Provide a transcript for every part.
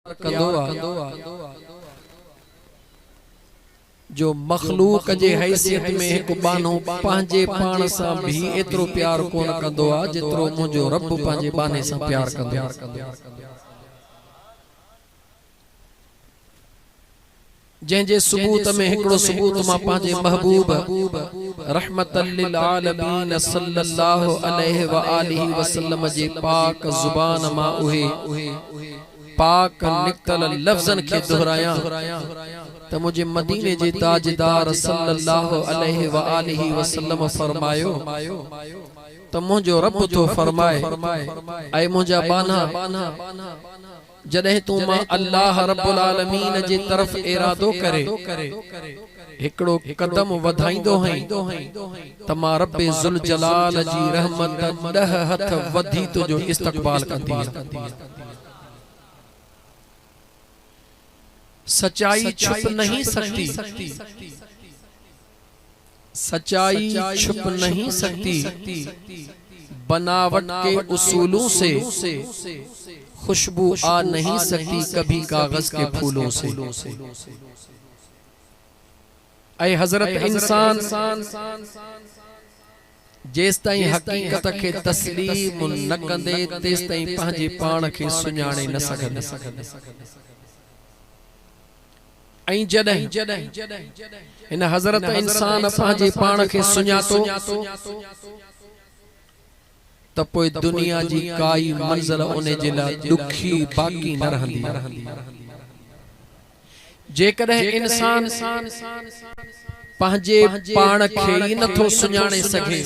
اختيار ڪندو آ جو مخلوق جي حيثيت ۾ هڪ ٻانهو پنهنجي پاڻ سان به ايترو پيار ڪونه ڪندو آ جيترو منهنجو رب پنهنجي ٻانهي سان پيار ڪندو آ. جنهن جي ثبوت ۾ هڪڙو ثبوت مان پنهنجي محبوب رحمة للعالمين صلّي الله عليه واٰله وسلّم جي پاڪ زبان مان اهي پاڪ نڪتل لفظن کي دهرايان ته منهنجي مديني جي تاجدار صلّي الله عليه واٰله وسلّم فرمايو ته منهنجو ربّ ٿو فرمائي اي منهنجا ٻانها! جڏهن تون مان الله رب العالمين جي طرف ارادو ڪري هڪڙو قدم وڌائيندو هئين ته مان رب ذوالجلال جي رحمت ڏهه هٿ وڌي تنهنجو استقبال ڪندي ها. سچائي ڇپ نهين سگتي. سچائي ڇپ نهين سڪتي، بناوٽ ڪي اصولون سي، خوشبو آ نهين سڪتي ڪڀي ڪاغذ ڪي ڦولون سي. اي حضرت انسان! جيستائين حقيقت کي تسليم نه ڪندين تيستائين پنهنجي پاڻ کي سڃاڻي نه سگهندين. ۽ جڏهن هن حضرت انسان پنهنجي پاڻ کي سڃاتو ته پوء دنيا جي ڪائي منزل ان جي لاء ڏکي باقي نه رهندي آهي. جيڪڏهن انسان پنهنجي پاڻ کي ئي نه ٿو سڃاڻي سگهي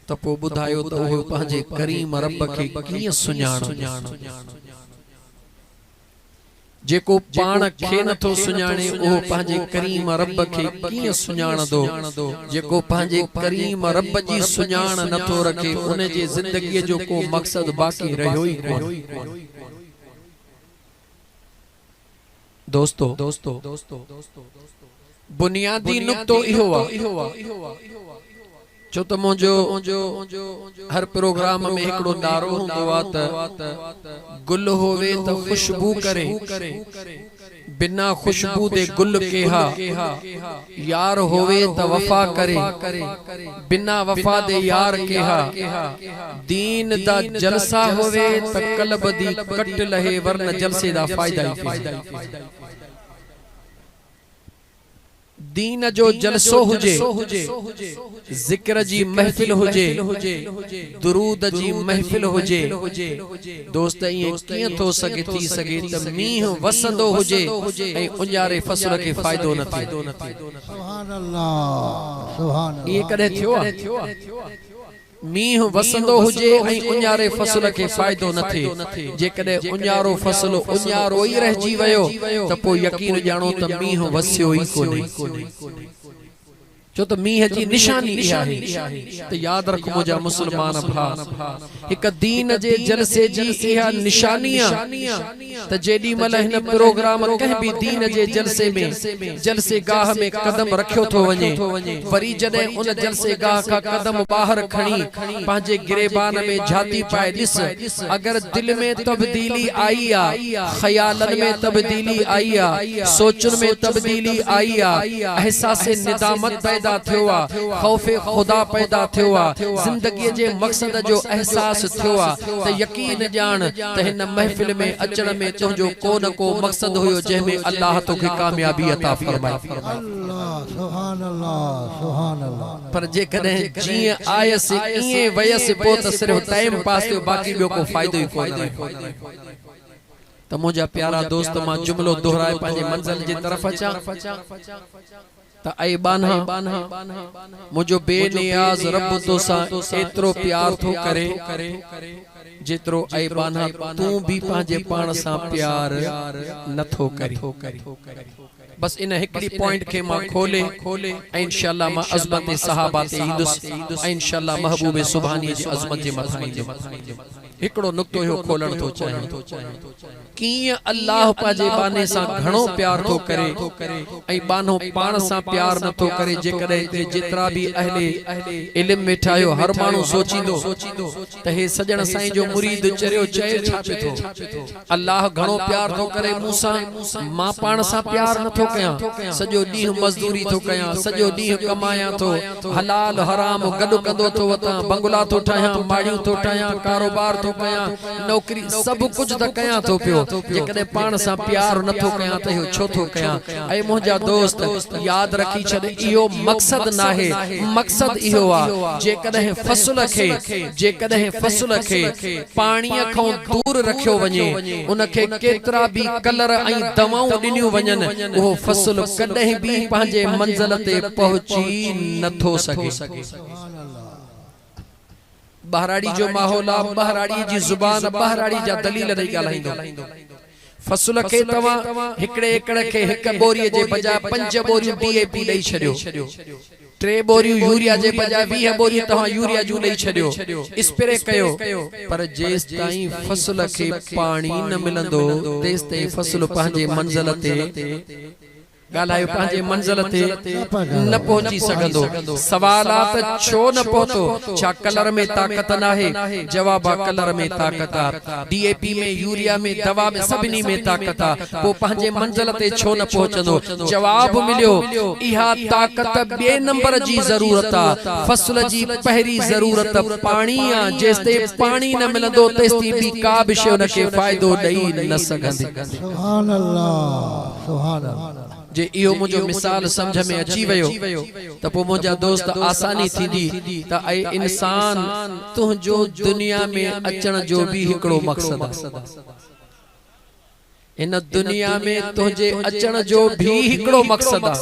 ته پوء ٻڌايو ته اهو پنهنجي ڪريم رب کي ڪيئن سڃاڻندو؟ جيڪو پاڻ کي نٿو سڃاڻي اهو پنهنجي ڪريم رب کي ڪيئن سڃاڻندو؟ جيڪو پنهنجي ڪريم رب جي سڃاڻ نٿو رکي ان جي زندگيء جو ڪو مقصد باقي رهيو ئي ڪونه. دوستو! بنيادي نقطو اهو آ ڇو ته منهنجو هر پروگرام ۾ هڪڙو نعرو هوندو آ ته گل هوي ته خوشبو ڪري بنا خوشبو دي گل ڪيها يار هوي ته وفا ڪري بنا وفا دي يار ڪيها دين دا جلسا هوي ته قلب دي ڪٽ لهي ورنه جلسي دا فائدا ئي ڪيها. دين جو جلسو هجي، ذڪر جي محفل هجي، درود جي محفل هجي، دوست ائين ڪيئن ٿو سگهي ٿي سگهي ته مينهن وسندو هجي ۽ اونهاري فصل کي فائدو نه ٿئي. اهي ڪڏهن ٿيو آهي؟ مينهن وسندو هجي ۽ اڃاري فصل کي فائدو نه ٿئي، جيڪڏهن اڃارو فصل اڃارو ئي رهجي ويو ته پوء يقين ڄاڻو ته مينهن وسيو ئي ڪونهي، ڇو ته مينهن جي نشاني اها آهي ته ياد رک منهنجا مسلمان ڀاء، هڪ دين جي جلسي جي اها نشاني آ. ته جيڏي مھل ھن پروگرام ڪنھن به دين جي جلسي ۾ جلسي گاھ ۾ قدم رکيو ٿو وڃي وري جڏھن ان جلسي گاھ کان قدم ٻاھر کڻي پنھنجي گريبان ۾ جھاتي پائي ڏس اگر دل ۾ تبديلي آئي آ خيالن ۾ تبديلي آئي آ سوچن ۾ تبديلي آئي آ احساس ندامت پيدا ٿيو آ خوف خدا پيدا ٿيو آ زندگي جي مقصد جو احساس ٿيو آ ته يقين ڄاڻ ته هن محفل ۾ اچڻ ۾ تنهنجو ڪو نه ڪو مقصد هيو جنهن ۾ الله توکي ڪاميابي عطا فرمائي. پر جيڪڏهن جيئن آيس ائين ويس پوء ته صرف ٽائيم پاس ٿيو باقي ٻيو ڪو فائدو ئي ڪونه رهيو. ته منهنجا پيارا دوست مان جملو دهرائي پنهنجي منزل جي طرف اچان. ته اي ٻانها! منهنجو بي نياز رب توسان ايترو پيار ٿو ڪري، جيترو اي ٻانها تون به پنهنجي پاڻ سان پيار نه ٿو ڪرين. بس ان هڪڙي پوائنٽ کي مان کولي ۽ انشاء الله مان عظمت صحابه تي ايندس ۽ انشاء الله محبوب سبحانيء جي عظمت جي مٿان ايندم. هڪڙو نقطو اهو کولڻ ٿو چاهيان. ڪيئن الله پنهنجي ٻانهي سان گهڻو پيار ٿو ڪري ۽ ٻانهو پاڻ سان پيار نه ٿو ڪري جيڪڏهن هتي جيترا به اهل علم ويٺا آهيو هر ماڻهو سوچيندو ته هي سڄڻ سائين جو مريد چريو چئي ڇا پي ٿو الله گهڻو پيار ٿو ڪري مون سان مان پاڻ سان پيار نه ٿو ڪيان سڄو ڏينهن مزدوري ٿو ڪيان سڄو ڏينهن ڪمايان ٿو حلال حرام گڏ ڪندو ٿو وتان، بنگلا ٿو ٺاهيان، ماڙيون ٿو ٺاهيان، ڪاروبار ٿو ڪيان، نوڪري، سڀ ڪجهه ته ڪيان ٿو پيو، جيڪڏهن پاڻ سان پيار نه ٿو ڪيان ته اهو ڇو ٿو ڪيان؟ اي منهنجا دوست! ياد رکي ڇڏ اهو مقصد ناهي، مقصد اهو آ، جيڪڏهن فصل کي، جيڪڏهن فصل کي، پاڻيء کان دور رکيو وڃي، ان کي ڪيترا به ڪلر ۽ دوائون ڏنيون وڃن، اهو فصل ڪڏهن به پنهنجي منزل تي پهچي نه ٿو سگهي. ٻهراڙي جو ماحول آ، ٻهراڙيء جي زبان، ٻهراڙي جا دليل رهي ڳالهائيندو. فصل کي توهان هڪڙي ايڪڙ کي هڪ ٻوريء جي بجاء پنج ٻوريون ڊي اي پي ڏئي ڇڏيو. ٽي ٻوريون يوريا جي بجاء ويهه ٻوريون توهان يوريا جون ڏئي ڇڏيو. اسپري ڪيو پر جيستائين فصل کي پاڻي نه ملندو تيستائين فصل پنهنجي منزل تي ڳالهايو پنهنجي منزل تي نه پهچي سگهندو سوال آ ته ڇو نه پهتو ڇا ڪلر ۾ طاقت ناهي جواب آ ڪلر ۾ طاقت آ ڊي اي پي ۾ يوريا ۾ دوا ۾ سڀني ۾ طاقت آ پو پنهنجي منزل تي ڇو نه پهچندو جواب مليو اها طاقت ٻئي نمبر جي ضرورت آ فصل جي پهرين ضرورت پاڻي آ جيستائين پاڻي نه ملندو تيستائين ٻي ڪا به شي ان کي فائدو ڏئي نه سگهندي. سبحان الله. جي اهو منهنجو مثال سمجهه ۾ اچي ويو ته پوء منهنجا دوست آساني ٿيندي ته اي انسان تنهنجو دنيا ۾ اچڻ جو به هڪڙو مقصد آهي هن دنيا ۾ تنهنجي اچڻ جو به هڪڙو مقصد آهي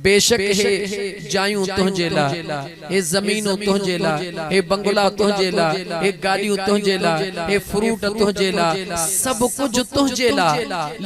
بيشڪ هي جايون تنهنجي لاء، هي زمينون تنهنجي لاء، هي بنگلا تنهنجي لاء، هي گاڏيون تنهنجي لاء، هي فروٽ تنهنجي لاء، سڀ ڪجهه تنهنجي لاء،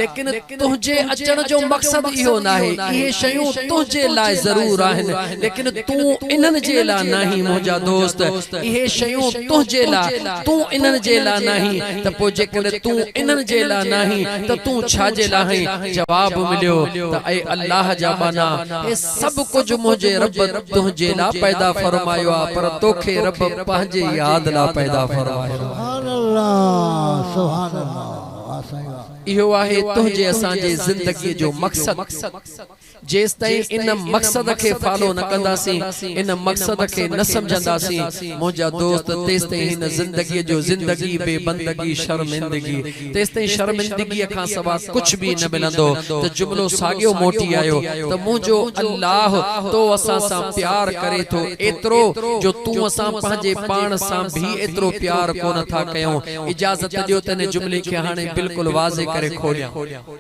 ليڪن تنهنجي اچڻ جو مقصد اهو ناهي، اهي شيون تنهنجي لاء ضرور آهن، ليڪن تون انهن جي لاء ناهين منهنجا دوست، اهي شيون تنهنجي لاء، تون انهن جي لاء ناهين، ته پوء جيڪڏهن تون انهن جي لاء ناهين ته تون ڇا جي لاء آهين؟ جواب مليو ته اي الله جا ٻانها! هي سڀ ڪجهه منهنجي رب تنهنجي لاء پيدا فرمايو آهي پر توکي رب پنهنجي ياد لاء پيدا فرمايو آهي. سبحان الله سبحان الله واه سائين واه. اهو آهي تنهنجي اسان جي زندگي جو مقصد. جيستائين ان مقصد کي فالو نه ڪنداسين، ان مقصد کي نه سمجهنداسين منهنجا دوست تيستائين هن زندگيء جو زندگي بي بندگي شرمندگي تيستائين شرمندگيء کان سوا ڪجهه به نه ملندو ته جملو ساڳيو موٽي آيو ته منهنجو الله تو اسان سان پيار ڪري ٿو ايترو جو تون اسان پنهنجي پاڻ سان به ايترو پيار ڪونه ٿا ڪيون اجازت ڏيو ته ان جملي کي هاڻي بلڪل واضح ڪري کوليان.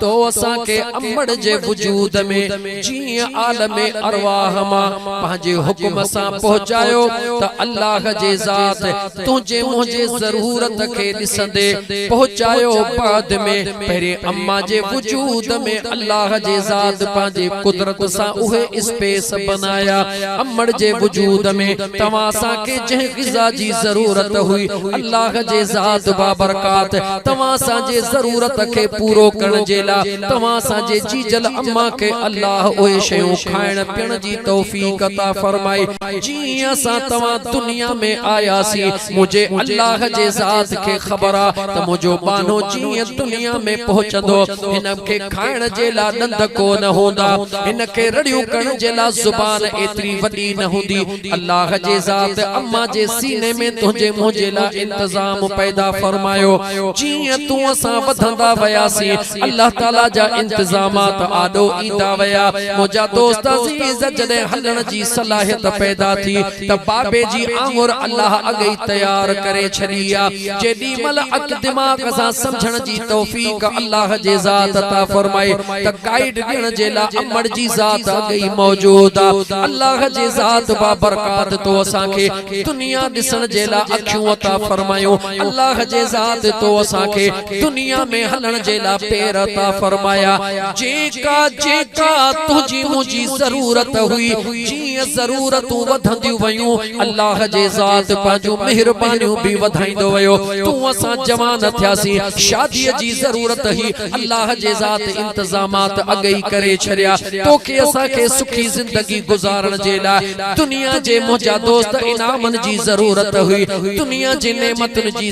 تو اسان کي امڙ جي وجود ۾ جيئن عالم ارواح مان پنهنجي حڪم سان پهچايو ته الله جي ذات تنهنجي منهنجي ضرورت کي ڏسندي پهچايو بعد ۾ پهرين امان جي وجود ۾ الله جي ذات پنهنجي قدرت سان اهي اسپيس بنايا آيا امڙ جي وجود ۾ توهان سان کي جنهن غذا جي ضرورت هئي الله جي ذات بابرڪات توهان سان جي ضرورت کي پورو ڪرڻ جي لا توهان سان جي جيجل اما کي الله اهي شيون کائڻ پيڻ جي توفيق عطا فرمائي جي اسان توهان دنيا ۾ آياسي منهنجي الله جي ذات کي خبر آ ته منهنجو ٻانهو جي دنيا ۾ پهچندو هن کي کائڻ جي لا ڏند ڪو نه هوندا، هن کي رڙيون ڪرڻ جي لا زبان ايتري وڏي نه هوندي. الله جي ذات امان جي سيني ۾ تنهنجي منهنجي لا انتظام پيدا فرمايو. جيئن تون اسان وڌندا وياسين، الله تعاليٰ جا انتظامات آڏو ايندا ويا. منهنجا دوست عزيز جڏهن هلڻ جي صلاحيت پيدا ٿي، ته بابي جي آڱر الله اڳي ئي تيار ڪري ڇڏي آ، جيڏي مھل عقل دماغ سان سمجھڻ جي توفيق الله جي ذات عطا فرمائي ته گائيڊ ڏيڻ جي لاء امڙ جي ذات اڳي ئي موجود آ. الله جي ذات بابرڪات تو اسان کي دنيا ڏسڻ جي لاء اکيون عطا فرمايون، الله جي ذات تو اسان کي. دنيا ۾ هلڻ جي لاء پير عطا فرمايا، جيڪا جيڪا تنهنجي منهنجي ضرورت هئي، جيئن ضرورتون وڌنديون ويون، الله جي ذات پنهنجون مهربانيون به وڌائيندو ويو، تون اسان جوان ٿياسين، شاديء جي ضرورت هئي، الله جي ذات انتظامات اڳ ئي ڪري ڇڏيا، توکي اسان کي سکي زندگي گذارڻ جي لاء دنيا جي منهنجا دوست انعامن جي ضرورت هئي، دنيا جي نعمتن جي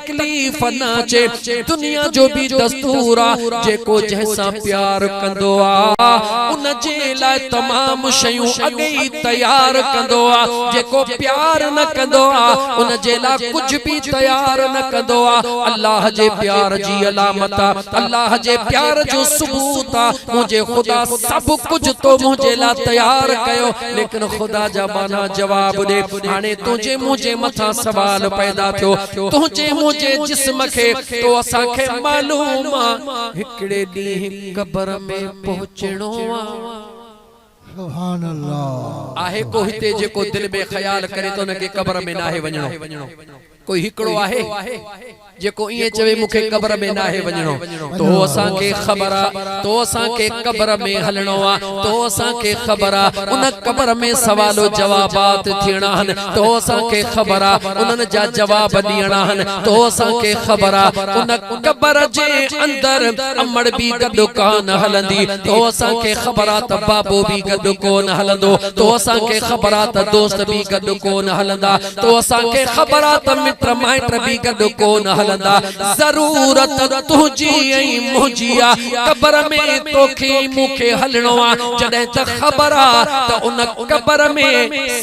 تڪليف نه اچي دنيا جو به دستور آ جيڪو جنهن سان پيار ڪندو آ ان جي لاء تمام شيون اڳ ئي تيار ڪندو آ جيڪو پيار نه ڪندو آ ان جي لاء ڪجهه به تيار نه ڪندو آ الله جي پيار جي علامت آ الله جي پيار جو ثبوت آ منهنجي خدا سڀ ڪجهه تو منهنجي لاء تيار ڪيو ليڪن خدا جا ٻانها جواب ڏي هاڻي تنهنجي منهنجي مٿان سوال پيدا ٿيو تنهنجي منهنجي جسم کي تو اسان کي معلوم آ هڪڙي ڏينهن قبر ۾ پهچڻو آ. سبحان الله. آهي ڪو هتي جيڪو دل ۾ خيال ڪري ته ان کي قبر ۾ ناهي وڃڻو. ڪوئي هڪڙو آهي جيڪو ائين چوي مون کي قبر ۾ ناهي وڃڻو. تو اسان کي خبر آ تو اسان کي قبر ۾ هلڻو آ تو اسان کي خبر آ ان قبر ۾ سوال و جوابات ٿيڻا هن تو اسان کي خبر آ انهن جا جواب ڏيڻا هن تو اسان کي خبر آ ان قبر جي اندر امڙ به گڏ ڪانه هلندي تو اسان کي خبر آ ته بابو به گڏ ڪونه هلندو تو اسان کي خبر آ ته دوست به گڏ ڪونه هلندا تو اسان کي خبر آ ته مٽ مائٽ به گڏ ڪونه هلندا ضرورت تنهنجي ۽ منهنجي آ قبر ۾ توکي ۽ مون کي هلڻو آ جڏهن ته خبر آ ته ان قبر ۾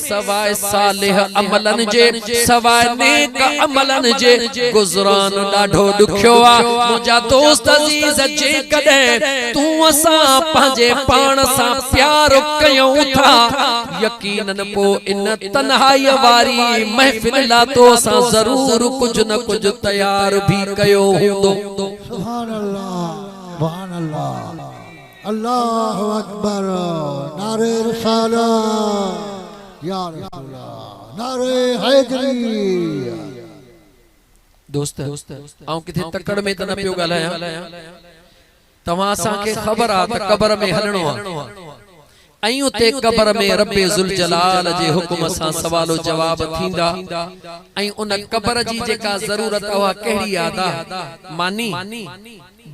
سواء صالح عملن جي سواء نيڪ عملن جي گذران ڏاڍو ڏکيو آ منهنجا دوست عزيز جيڪڏهن تون اسان پنهنجي پاڻ سان پيار ڪيون ٿا يقينن پوء ان تنهائيء واري محفل لاء تو سان ضرور ڪجهه نه ڪجهه تيار به ڪيو هوندو. سبحان الله سبحان الله الله اڪبر نعري رسالت يا رسول نعري حيدري. دوست آئون ڪٿي تڪڙ ۾ ته نه پيو ڳالهايان. توهان اسان کي خبر آ ته قبر ۾ هلڻو آ ۽ اتي قبر ۾ رب ذوالجلال جي حڪم سان سوال و جواب ٿيندا ۽ ان قبر جي جيڪا ضرورت آ اها ڪهڙي آ ادا؟ ماني؟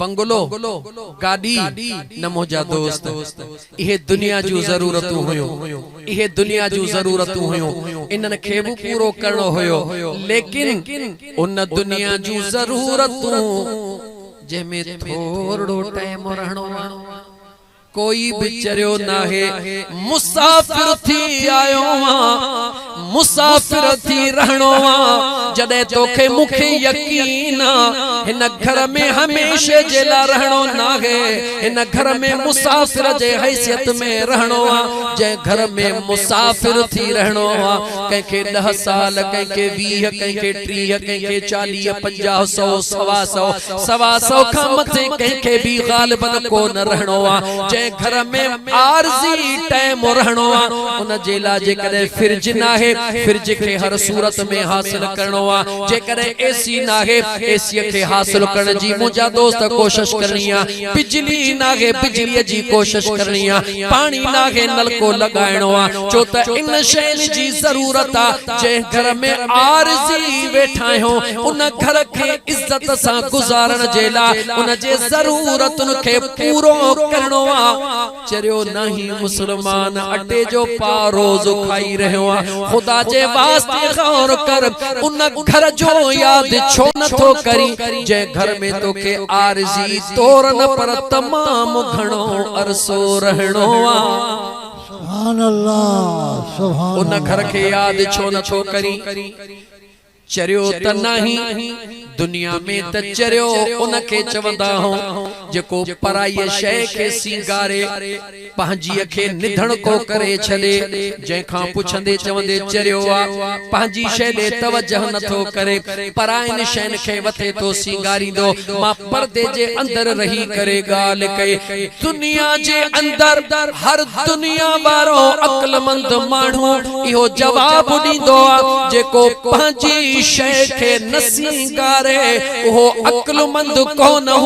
بنگلو؟ گاڏي؟ نه منهنجا دوست اهي دنيا جون ضرورتون هيون اهي دنيا جون ضرورتون هيون انهن کي به پورو ڪرڻو هيو ليڪن ان دنيا جون ضرورتون جنهن ۾ ٿورڙو ٽئم رهڻو آ ڪوئي به چريو ناهي مسافر ٿي آيو آن مسافر ٿي رهڻو آ جڏهن توکي مون کي يقين آ هن گهر ۾ هميشه جي لا رهڻو ناهي هن گهر ۾ مسافر جي حيثيت ۾ رهڻو آ جنهن گهر ۾ مسافر ٿي رهڻو آ ڪنهن کي ڏهه سال ڪنهن کي ويهه ڪنهن کي ٽيهه، ڪنهن کي چاليهه، پنجاهه، سؤ، سوا سؤ، سوا سؤ کان مٿي ڪنهن کي به غالباً ڪو نه رهڻو آ. جنهن گهر ۾ عارضي ٽيم رهڻو آ، ان جي لاء جيڪڏهن فرج ناهي، فرج کي هر صورت ۾ حاصل ڪرڻو آ. جيڪڏهن اي سي ناهي، اي سيء کي حاصل ڪرڻ جي منهنجا دوست ڪوشش ڪرڻي آ. بجلي ناهي، بجليء جي ڪوشش ڪرڻي آ. پاڻي ناهي نلڪو لڳائڻو آ ڇو ته ان شين جي ضرورت آ جنهن گهر ۾ عارضي ويٺا آهيون ان گهر کي عزت سان گذارڻ جي لا ان جي ضرورتن کي پورو ڪرڻو آ چريو ناهي مسلمان اٽي جو پا روز کائي رهيو آ خدا جي واسطي غور ڪر ان گهر جو ياد ڇو نٿو ڪرين جنهن گهر ۾ توکي عارضي طور نه پر تمام گهڻو عرصو رهڻو آ. سبحان الله سبحان الله. ان گهر کي ياد ڇو نه ٿو ڪرين. چريو ته ناهين. دنيا ۾ ته چريو ان کي چوندا هون جيڪو پرائيء شيء کي سينگاري. پنهنجيء کي نڌڻ ڪو ڪري ڇڏي، جنهن کان پڇندي چوندي چريو آ، پنهنجي شيء ڏي توجهه نه ٿو ڪري، پرائين شين کي وٿي ٿو سينگاريندو. مان پردي جي اندر رهي ڪري ڳالهه ڪئي. دنيا جي اندر هر دنيا وارو عقلمند ماڻهو اهو جواب ڏيندو آ، جيڪو پنهنجي شيء کي نه سينگاري، اهو عقلمند ڪونه.